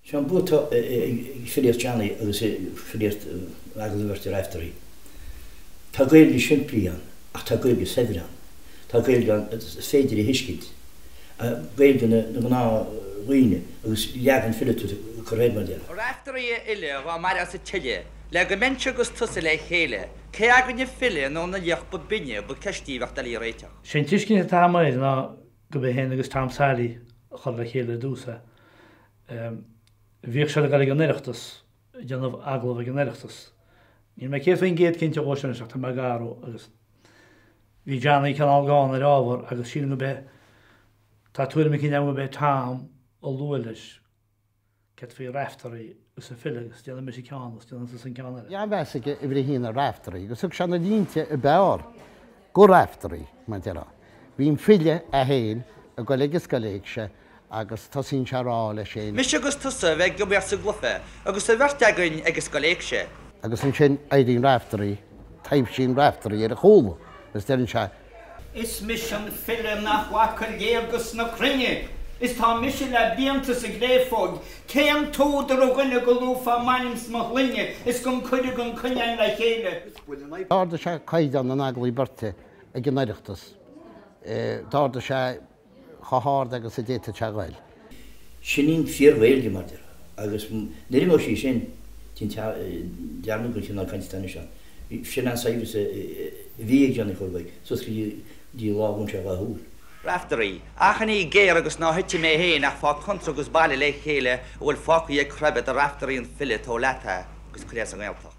Seo an bua atá ag filíocht Johnny agus ag filíocht agallamh beirte Raifteirí. Tá Gaeilge shimplí ann ach tá Gaeilge shaibhir ann. Tá Gaeilge ann atá féidir a thuiscint, Gaeilge na ngnáthdhaoine agus leagan fileata curtha air, mar a déarfá. Raifteirí a fhile dhá mairfeása tuilleadh le go mbeinnse 'gus tusa le chéile Cé againn an file nó an laoch ba binne ba ceist í a bheadh doiligh a réiteach. Sé an tuiscint atá agam air ná go b'é fhéin agus Tom Sally a chuir le chéile ar dtús é. Bhíodh siad ag dul ag an Oireachtas, ag déanamh agallamh ag an Oireachtas. Níl mé céad faoin gcéad cinnte dhó sin anois ach tá mé gar dhó agus bhí Johnny cineál gann ar ábhar agus sílim go b'é, tá tuairim eicínt agam go b'é Tom a luaigh leis. D'fhéadfaí Raiftearaí 'gus an File 'gus déanfaidh mise ceann 'gus déanfaidh tusa an ceann eile. Bhí an-mheas aige uimhir a haon ar Raiftearaí 'gus thug sé na línte a b'fhearr do Raiftearaí, mar a déarfá. Bíonn an file, é fhéin, ag goil ag scoil éigse agus tosaíonn sé a rá leis fhéin. Mise 'gus tusa a bheidh amuigh as an gcluiche agus an bheirt againn ag scoil éigse. Agus ansin éiríonn Raiftearaí, taibhsíonn Raiftearaí ar a chúla 'gus deireann sé. Is mise an file nach bhfaca léargas na cruinne is tá mise le blianta sa gcréafóig. Cén t-údar a dhuine go luafá m'ainm 's mo shloinne is gan cuireadh gan coinne againn le chéile? D'ardaigh sé caighdeán an agallaimh beirte ag an Oireachtas. D'ardaigh sé chomh hard agus a d'fhéadfadh sé a ghoil. Sin í an fíor-Ghaeilge, mar a déarfá. Agus nuair a mhol sí sin, dearmad gur chineál cainte atá anois ann, sin an saibhreas a bhí ag Johnny Chóil Mhaidhc, suas go dtí lá ar dhún sé a dhá shúil. Raiftearaí, Achainí ghéar agus ná heitigh mé féin ach faigh cónra 'gus bailigh le chéile a bhfuil fágtha ag cruimhe de Raiftearaí an file tabhair leat é 'gus cuir é sa nGaeltacht.